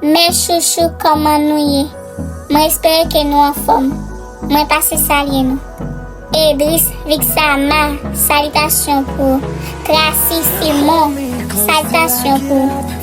Mes chouchou koman nou ye mwen espere ke nou anfom mwen pase salye nou Edris vixama salitasyon pou ou Tracy simon salitasyon pou ou.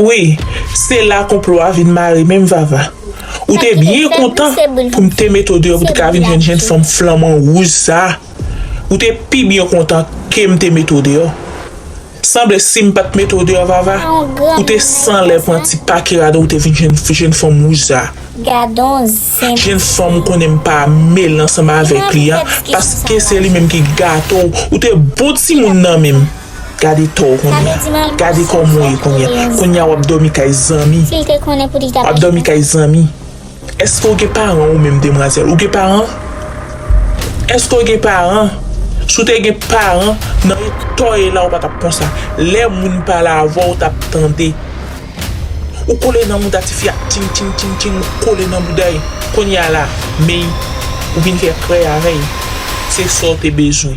Wi se la konplo a vin mare menm vava ou te byen kontan pou m te mete w deyò pou te ka vin jwenn jenn fanm flanman wouj sa ou te pi byen kontan ke m te mete w deyò sanble si m pat mete w deyò vava ou te san lè pran ti pake rad ou te vin jwenn jenn fanm wouj sa jenn fanm ou konnen m pa mele ansanm avèk li a paske se li menm ki gate w ou te bon timoun nan menm. Gade tò w kounya. Gade kò m ou ye kounya. Kounya wap dòmi kay zanmi. Wap dòmi kay zanmi. Eske w gen paran ou menm demwazèl? Ou gen paran? Eske w gen paran? Si w te gen paran nan eta w ye la ou pa tap konsa. Lè moun pale avè w ou tap tande. Ou kole nan mouda tifi a ting ting ting ting ou kole nan bouda l. Kounya la men ou vin fè krèy avè l. Se sa w te bezwen.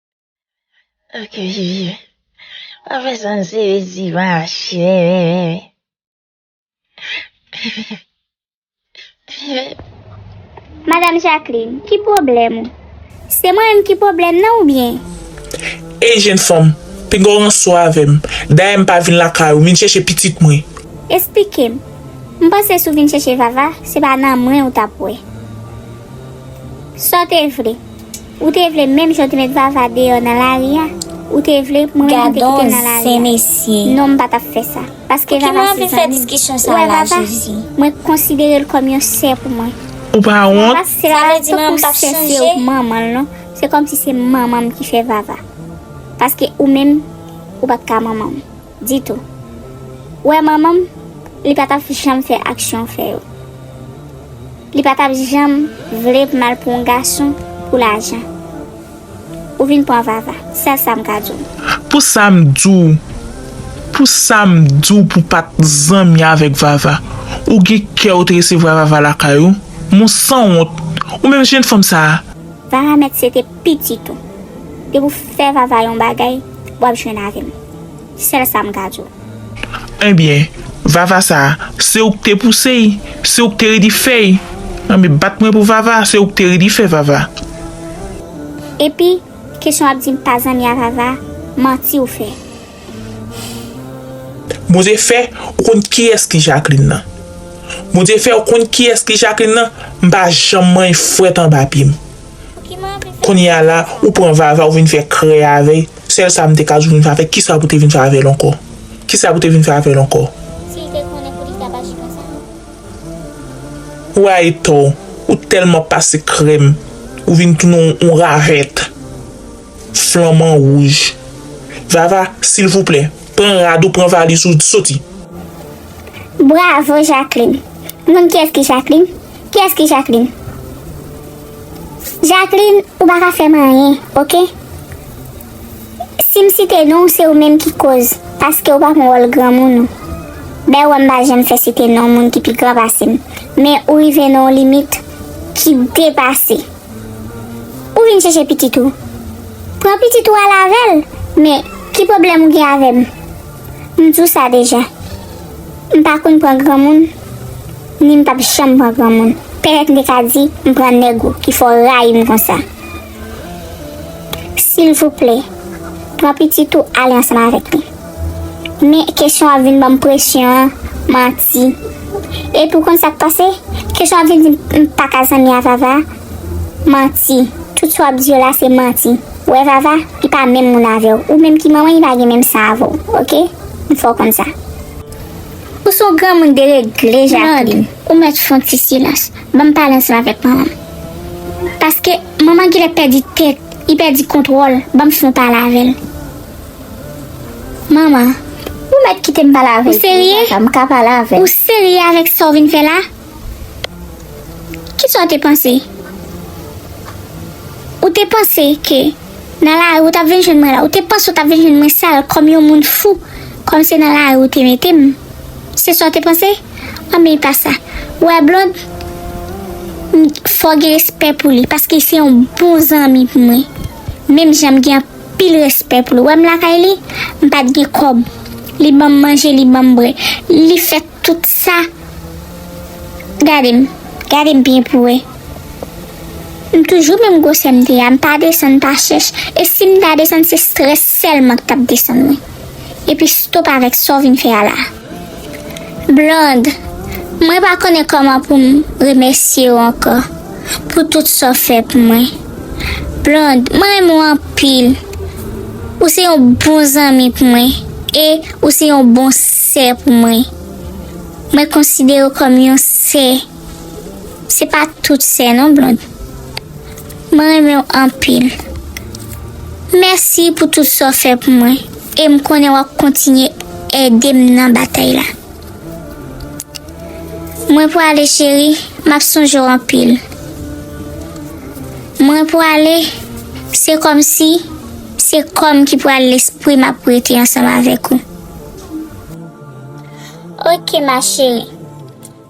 Ok, Juju. Pa fè sa m sere di va chè. Madame Jacqueline, ki pwoblèm ou? Se mwen menm ki pwoblèm nan ou byen? Ey jenn fanm, pinga w ransou avè m. Dayè m pa vin lakay ou, m vin chèche pitit mwen. Esplike m. M panse si w vin chèche Vava, se pa nan mwen ou t ap wè. Sa w te vle? Ou te vle menm jan w te met Vava deyò nan lari a? Ou te vle pou mwen menm m te kite l nan lari a? Non m pa t ap fè sa. Paske Vava se zanmi m. Ou wè Vava? Mwen konsidere l kòm yon sè pou mwen. Ou pa wont? Vava se pa tankou sè se yo k manman l non. Se kòmsi se manman m ki fè Vava. Paske ou menm ou pa t ka manman m. ditou. Ou wè manman m, li pa t ap janm fè aksyon fè yo. Li pa t ap janm vle m al pran yon gason pou lajan. Ou vin pran Vava. Sèl sa m ka di w. Pou sa m di w, pou sa m di w pou w pa t zanmi avèk Vava. Ou gen kè ou te resevwa Vava lakay ou? Mon sanwont! Ou menm jennfanm sa a! Vava mèt se te. pitit ou depi w fè vava yon bagay wap jwenn avèm sèl sa m ka di w. Ebyen vava sa se ou k te pouse y se ou k te redi fè y anbyen bat mwen pou vava se ou k te redi fè vava. Epi kesyon wap di m pa zanmi a vava manti ou fè. Bondye fè ou konn kiyès ki Jacqueline nan Bondye fè ou konn kiyès ki Jacqueline nan m pa janm manyen fwèt anba pye m. Kounye a la ou pran vava ou vin fè krè avèy sèl sa mte ka di ou vin fè avèy kisa pou te vin fè avèl ankò kisa pou te vin fè avèl ankò. Ou rayi tò ou tèlman pase krèm ou vin tounen on ravèt flanman wouj vava silvouplè pran rad ou pran valiz ou soti. Bravo Jacqueline Moun kiyès ki Jacqueline? Kiyès ki Jacqueline? Jacqueline ou pa ka fèm anyen ok Sim site nonw se ou menm ki koz paskew pa pran wòl granmoun ou bèw wèm pa janm fè site non moun ki pi gran pasem men ou rive nan yon limit ki depase ou vin chèche pitit ou pran pitit ou al avèl men ki pwoblèm ou gen avèm m diw sa deja m pa konn pran granmoun. Ni m pap janm pran granmoun. Pètèt m te ka di m pran nèg ou ki fè w rayi m konsa. Silvouplè, pran pitit ou ale ansanm avèk li. Men, kesyon w ap vin ban m presyon an manti. Epi ou konn sa k pase? Kesyon w ap vin di m m pa ka zanmi a Vava manti. Tout sa w ap di yo la se manti. Ou wè Vava, li pa menm moun avè w. Ou menm ki manman li pa gen menm san avè w. Ok? M fè w konn sa. Ou son granmoun deregle Jacqueline. Claude, ou mèt fon ti silans. Banm pale ansanm avèk manmanm. Paske manman gilè pèdi tèt, li pèdi kontwòl, banm fon pale avèl. Manman, ou mèt kitem pale avèl. Ou serye? Ou serye avèk sa ou vin fè la? Ki sa w te panse? Ou te panse ke nan lari ou t ap vin jwenn mwen la? Ou te panse ou t ap vin jwenn mwen sal kòm yon moun fou, kòm se nan lari ou te mete m? Se sa w te panse? Anben, e pa sa. Ou wè Blond? M fè w gen respè pou li, paske se yon bon zanmi pou mwen, menm jan m gen anpil respè pou li. Ou wè m lakay li, m pa t gen kòb. Li ban m manje, li ban m bwè. Li fè Tout sa Gade m Gade m byen pou wè M toujou menm gwosè m te a M pa desann pa chèch E si m ta desann se strès sèlman k t ap desann mwen Epi stop avèk sa w vin fè a la Blonde Mwen pa konnen kòman pou m remèsye w ankò Pou tout sa w fè pou mwen Blonde Mwen renmen w anpil Ou se yon bon zanmi pou mwen E ou se yon bon Sè pou mwen. Mwen konsidere w kòm yon sè. Se pa tout sè non Blonde. Mwen renmen w anpil. Mèsi pou tout sa w fè pou mwen e m konnen w ap kontinye ede m nan batay la. Mwen pwale cheri, m ap sonje w anpil. Mwen pwale, se kòmsi se kò m ki pwale lespri m ap rete ansanm avèk ou. Ok ma chérie,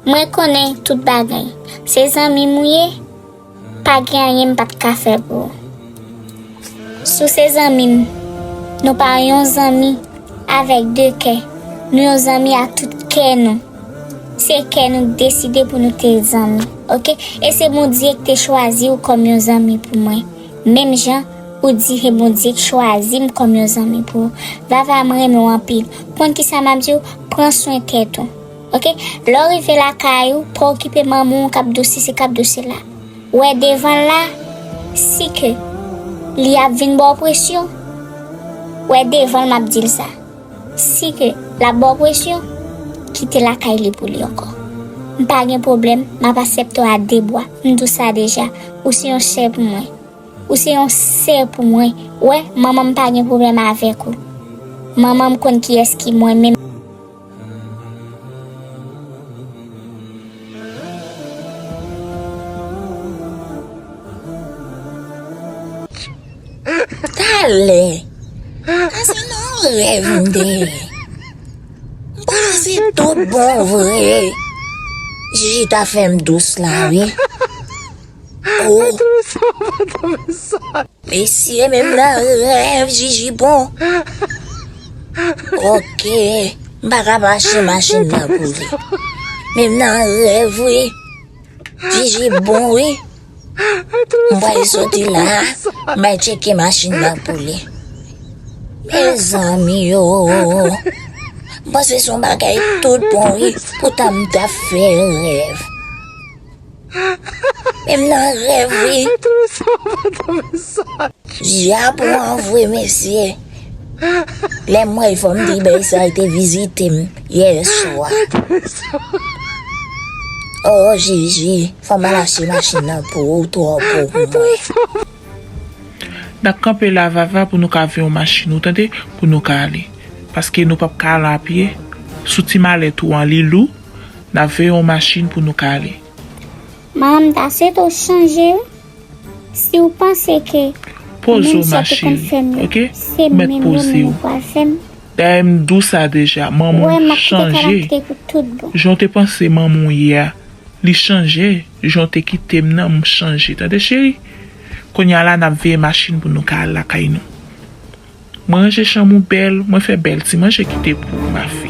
mwen konnen tout bagay. Se zanmi mou ye, pa gen anyen m pat ka fè pou ou. Sou se zanmi m, nou pa yon zanmi avèk de kè. Nou yon zanmi ak tout kè nou. Se kè nou k deside pou nou te zanmi, ok? E se Bondye k te chwazi ou kòm yon zanmi pou mwen. Menm jan Ou di he bondye k chwazim kòm yon zanmi pou ou vava m renmen w anpil konn kisa map di w pran swen tèt ou ok lè w rive lakay ou pa okipe manman w kap do sesi kap do sela wè devan l la si ke li ap vin ba w presyon wè devan l map di l sa. Si ke lap baw presyon, kite lakay li pou li ankò. M pa gen pwoblèm, map asepte w a de bwa, m di w sa deja, ou se yon sè pou mwen. Ou se yon sè pou mwen, ou wè, manman m pa gen pwoblèm avèk ou. Manman m konn kiyès ki mwen menm. Talè. Ase nan yon rèv m te ye. M pa se tout bon vre. Jiji ta fè m dous la wi. Ohh. Mesye menm nan rèv Jiji bon. Ok. M pa ka mache machin nan pou li. Menm nan rèv wi. Jiji bon wi. M vle soti la m al tcheke machin nan pou li Mezanmi ooh M panse son bagay tout bon wi poutan m ta fè rèv Men m nan rèv wi Je a pran vre mesye Lè m wèl fò m di bèy sa l te vizite m yèswa Ooh jiji. Fòm al achte machin nan pou ou twò gwo pou mwen. Nap kanpe la vava pou nou ka ve yon machin ou tande pou nou ka ale paske nou pap ka al apye sou ti malèt ou an li lou nap ve yon machin pou nou ka ale. Maman m ta swete w chanje wi si w panse ke menm jan te konn fè m yo se menm yo nou pral fè m. Dayè m t dou sa deja. Manman w chanje jan w te panse manman w ye a li chanje jan w te kite m nan m chanje tande cheri kounya la nap veye machin pou nou ka al lakay nou mwen ranje chanm ou bèl mwen fè bèl ti manje kite pou ou ma fi.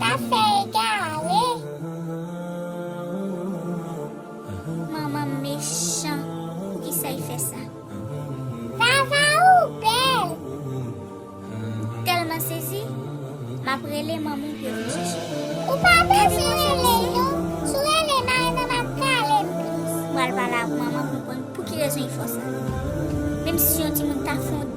Ta fè egare manman m mechan poukisa y fè sa. Vava ou bèl m tèlman sezi map rele manman w pou yo vin chèche m. Ou pa bezwen rele yo si w rele mari mwen map kale m plis. Mwen al pale ak manman m pou m konn pouki rezon y fò sa. Menm si se yon timoun ta fon.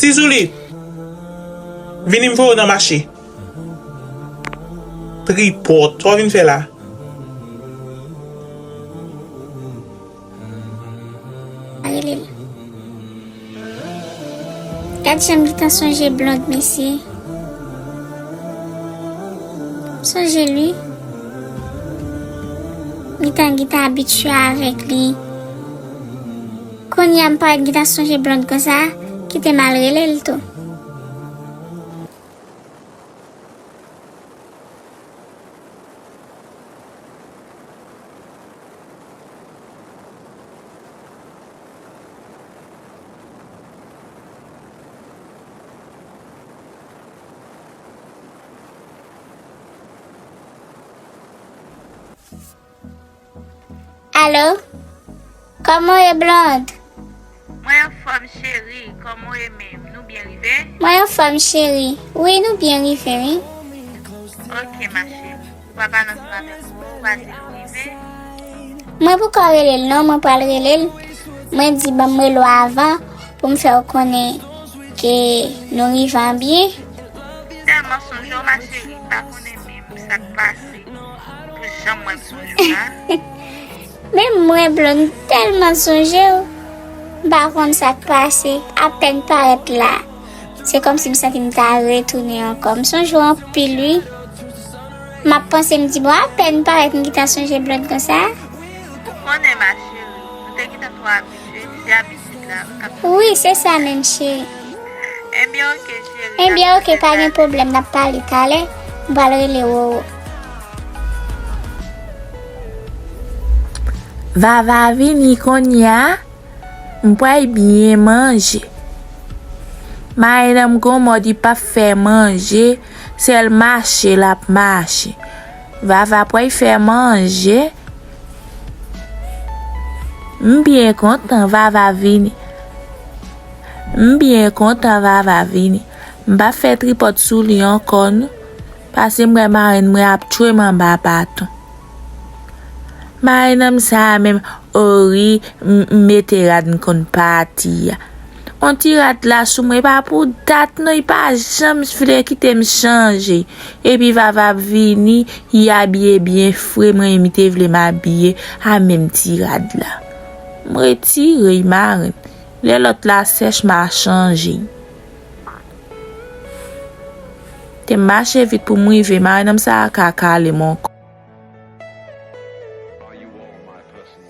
Ti Zouli, vini m fè w nan mache. Tripòt, sa w vin fè la? Rele l. Gad jan m gentan sonje Blond mesye. M sonje l wi. M gentan gentan abitye avèk li. Kounye a m parèt gntan sonje Blonde konsa, kite m al rele l tou. Allo Koman w ye Blonde? Mwen anfòm cheri, kòman w ye menm? Nou byen rive? Mwen anfòm cheri, wi nou byen rive wi. Ok ma cheri, ou pa pale ansanm avèk m non, ou pa di nou rive? Mwen poko rele l non, mwen pral rele l, mwen di banm rele w avan pou m fè w konnen ke nou rive an byen. M tèlman sonje w ma cheri, m pa konnen menm sa k pase. Menm mwen blond m telman sonjew m pa konn sak pase apèn parèt la se kòmsi m santim ta retounen ankò m sonjew anpil wi map panse m di bon apèn parèt m gita sonje blond konsa. Wi se sa menm cheri. Enbyen ok pa gen pwoblèm nap pale talè m pral rele Roro. Vava vini konnya m pral byen manje. Marenn an m gon mòd li pap fè manje sèl mache lap mache Vava pway fè manje. M byen kontan vava vini. M byen kontan vava vini. M pap fè tripòt sou li ankò non. Pase m wè marenn mwen ap tchwem anba baton. Marennm sa menm o rii m mete rad m konn pati a. On ti rad la sou mwen epa pou dat non ypa janm vle kitem chanje epi vava ap vini yi abiye byen fre mwen ymi te vle mabiye a menm ti rad la m retire yi marenn lè lòt la sèch ma chanje yi tem mache vit poum rive marenn m sa ka kalem ankò.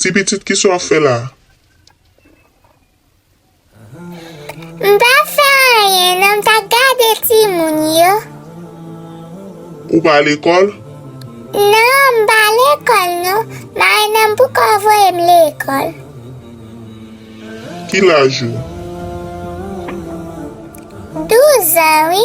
Ti pitit kisa wap fè la. M pa fè anyen nan m ta gade timoun yo. Ou pa lekòl? Non m pa lekòl non. Mari nan pouko w voye m lekòl. Ki laj ou? Douzan wi.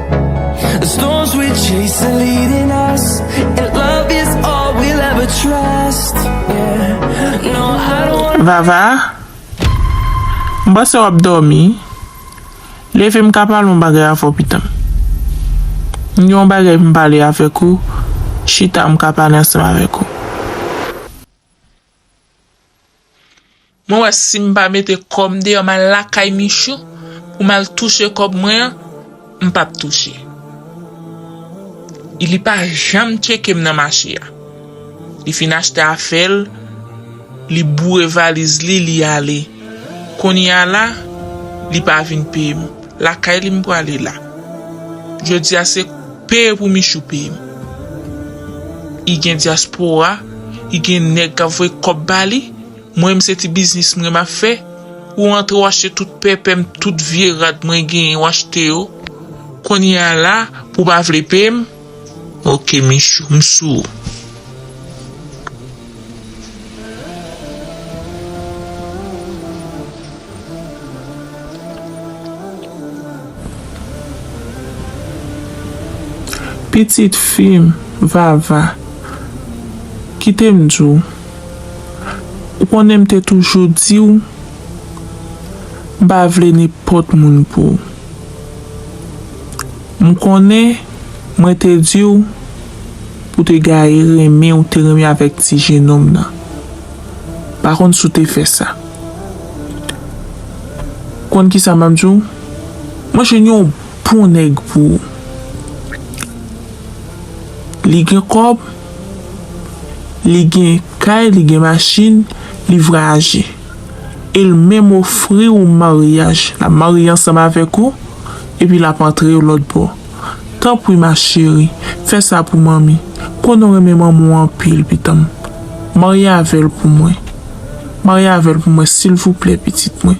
Vava, m panse w ap dòmi. Leve m ka pale yon bagay avè w pitan. M gen yon bagay pou m pale avèk ou, chita m ka pale ansanm avèk ou. Mwen wè sim pa mete kòm deyò mal lakay Michou pou mal touche kòb mwen an m pap touche I li pa janm tchekem nan mache a li fin achte afèl li boure valiz li li ale kounya la li pa vin peyem lakay li m prale la jodia se peye pou Michou peyem I gen diaspora I gen nèg kap voye kòb bali. Mwen menm se ti biznis mwen map fè, ou antre w achte tout pèpè m tout vye rad mwen genyen w achte yo kounye a la pou pa vle peye m ok Michou m sou ou. Pitit fi m Vava, kite m di w. Ou konnen m te toujou di w m pa vle nenpòt moun pou w. M konnen mwen te di w pou w te gaye renmen ou te renmen avèk ti jenòm nan. M pa konn si w te fè sa. Ou konn ki sa m ap di w? Mwen jwenn yon bon nèg pou ou. Li gen kòb. Li gen kay, li gen machin, li vwayaje. E l menm ofri ou maryaj. L ap marye ansanm avèk ou, epi l ap antre yo lòtbò. Tanpri ma cheri, fè sa pou manmi. Konnen w renmen manmi w anpil, pitan m. Marye avè l pou mwen. Marye avè l pou mwen, silvouplè, pitit mwen.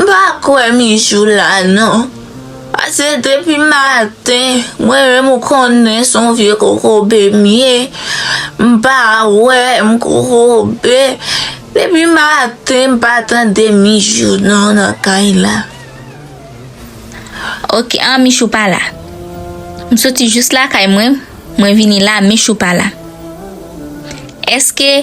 M pa kwè Mijou la non. Pase depi maten mwen menm ou konnen son vye kokobe m ye. M pa wè m kokobe. Depi maten m pa tande Mijou non nan kay la. Ok an Michou pa la. M soti jous lakay mwen, mwen vini la Michou pa la. Eske.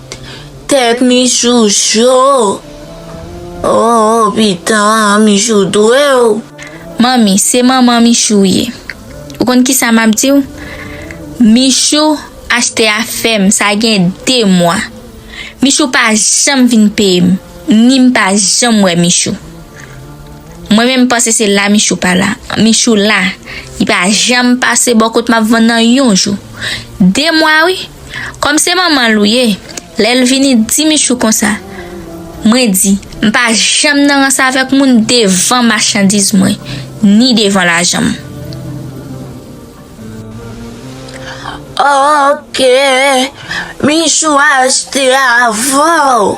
Tèt Michou cho ooh pitann Michou dwew. Manmi se manman michou ou ye ou konn kisa map diw michou achte afèm sa gen 2 mwa michou pa janm vin peyem ni m pa janm wè michou mwen menm panse se la michou pa la michou la li pa janm pase bò kot map vann nan yon jou 2 mwa wi. Kòm se manman l ou ye, lè l vini di Michou konsa, mwen di, m pa janm nan rans avèk moun devan machandiz mwen, ni devan lajan m. Ok, Michou achte avan w.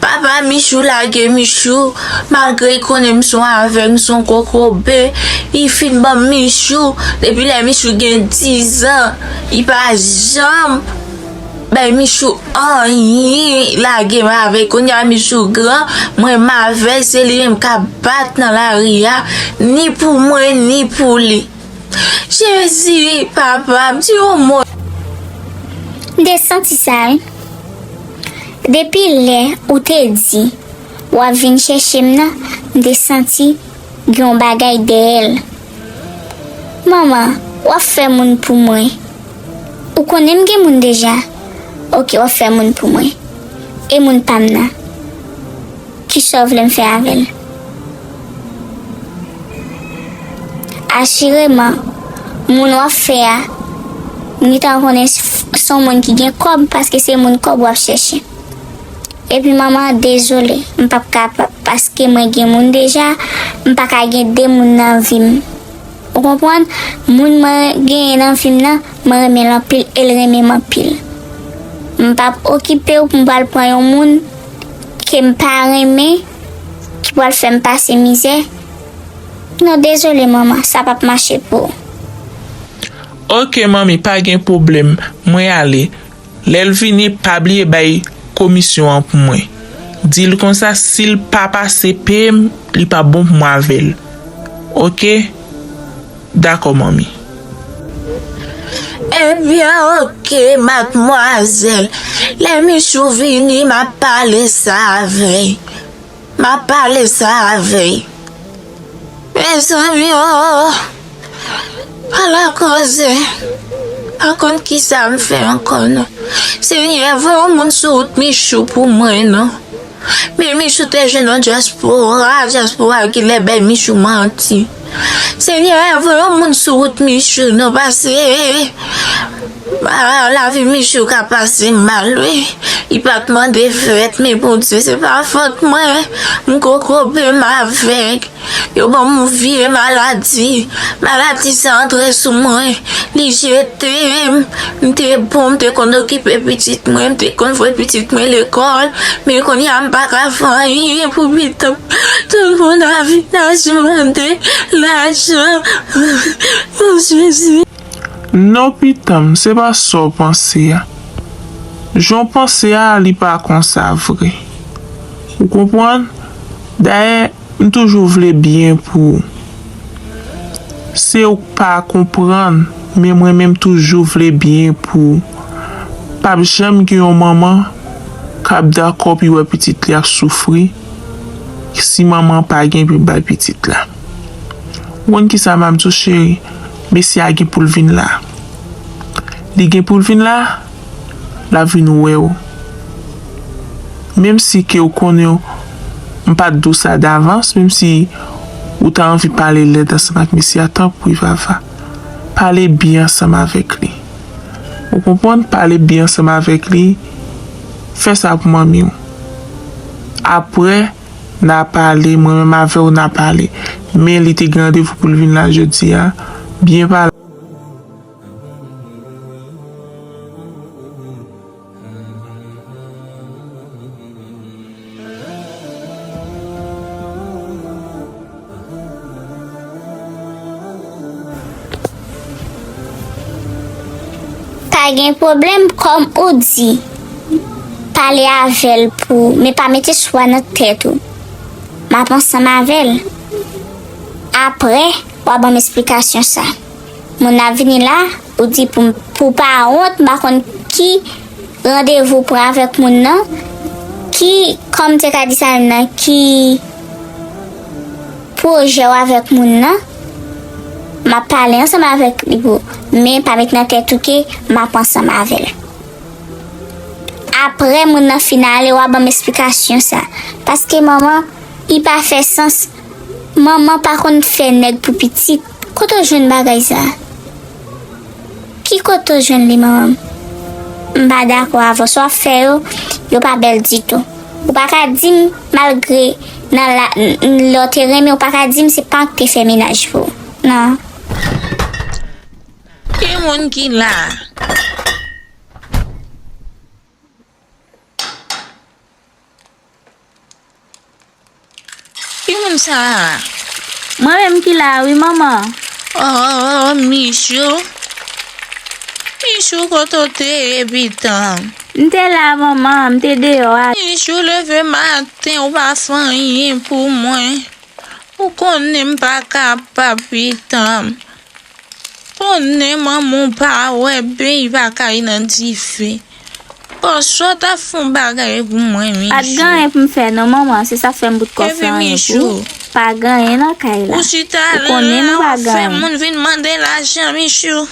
Papa Michou lage Michou malgre li konnen m son avèg m son kokobe li fin banm Michou depi lè Michou gen 10 an li pa janm bay Michou anyen lage m avèl kounya Michou gran mwen m avèl se li menm kap bat nan lari a ni pou mwen ni pou li. Jezi papa m di yon mo. M te santi sa wi. Depi lè ou te di wap vin chèche m nan m te santi gen yon bagay dèyè l. Mama wap fè moun pou mwen. Ou konnen m gen moun deja. Ok wap fè moun pou mwen. E moun pa m nan. Kisa w vle m fè avè l? Asireman, moun w ap fè a gentan konnen se yon moun ki gen kòb paske se moun kòb w ap chèche. Epi manman, dezole, m p ap kapab paske mwen gen moun deja, m pa ka gen de moun nan vi m. Ou konprann? Moun mwen genyen nan vi m nan, mwen renmen l anpil e l renmen m anpil. M p ap okipe w pou m pral pran yon moun. ke m pa renmen ki pral fè m pase mizè non dezole manman sa pap mache pou ou. Ok manmi pa gen pwoblèm mwen ale lèl vini pa bliye bay komisyon an pou mwen dil konsa sil pa pase peye m li pa bon pou mwen avèl ok. Dakò manmi. Ebyen ok madmwazèl lè michou vini map pale sa avèy map pale sa avèy mezanmi oo ala koze pa konn kisam fè ankò non senyè voye yon moun sou wout michou pou mwen non men michou te jwenn yon dyaspora dyaspora kilè bay michou manti. Senyè pa voye yon moun sou wout Michou non pase lavi Michou ka pase mal wi li pat mande fèt men Bondye se pa fòt mwen m ko kobe m avèg yo banm yon vye maladi maladi sa antre sou mwen li jetem M te bon, m te konn okipe pitit mwen, m te konn voye pitit mwen lekòl. Men kounye a m pa ka fè anyen pou pitit m. Tout moun ap vin aji mande lajan pou Jezi. Non pitan m, se pa sa w panse a. Jan w panse a, li pa konsa vre. Ou konprann? Dayè, M toujou vle byen pou ou. Se ou k pa konprann men mwen menm toujou vle byen pou ou. Pap janm gen yon manman kap dakò pu wè pitit li ap soufri si manman an pa gen pu bay pitit la. Ou konn kisa map di w cheri mesye a gen poul vin la. Li gen poul vin la? la vin wèw menm si ke ou konnen m pat diw sa davans menm si ou ta anvi pale lèd ansanm ak mesye a tanpri Vava pale byen ansanm avèk li ou konprann pale byen ansanm avèk li fè sa pou manmiw aprè na pale mwen menm avèw na pale men li te gen randevou poul vin la jodi a byen pale. Pa gen pwoblèm kòm ou di. Pale avè l pou men pa mete swa nan tèt ou. M ap ansanm avè l. Apre, w a ban m esplikasyon sa. Moun ap vini la ou di pou pou pa wont m pa konn ki randevou pran avèk moun nan ki kòm m te ka di sa menm nan ki pwojè w avèk moun nan m ap pale ansanm avèk li pou men pa met nan tèt ou ke m ap ansanm avè l aprè moun nan fin ale w a ban m esplikasyon sa paske manman li pa fè sans manman pa konn fè nèg pou pitit. Kote w jwenn bagay sa? Ki kote w jwenn li manman? M pa dakò avè w, sa w ap fè yo, yo pa bèl ditou. Ou pa ka di m malgre nan la, lè w te renmen ou pa ka di m se pa w k te fè menaj pou ou nan. Ki moun ki la a? Ki moun sa a? Mwen menm ki la a wi manman. Oh Michou. Michou kote w te ye pitanm? M te la a manman, m te deyò a. Michou leve maten ou pa fè anyen pou mwen. Ou konnen m pa kapab pitanm. Konnen manman w pa wè ben y pa kay nan dife Paske w ta fon bagay pou mwen Mijou Pat gen anyen pou m fè non manman se sa fèm bout kò san anyen pou ou Pa gen anyen nan kay la Ou chita lan lan wap fè moun vin mande lajan Mijou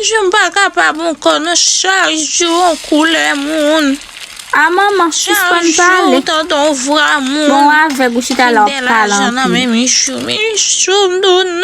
Je m pa kapab ankò non chak jou yon koulè moun. A manman sispann pale. Chak jou tande yon vwa moun. Bon ou avèg ou chita la wap pale anpil. Gen lajan nan men Michou, Michou m do nan.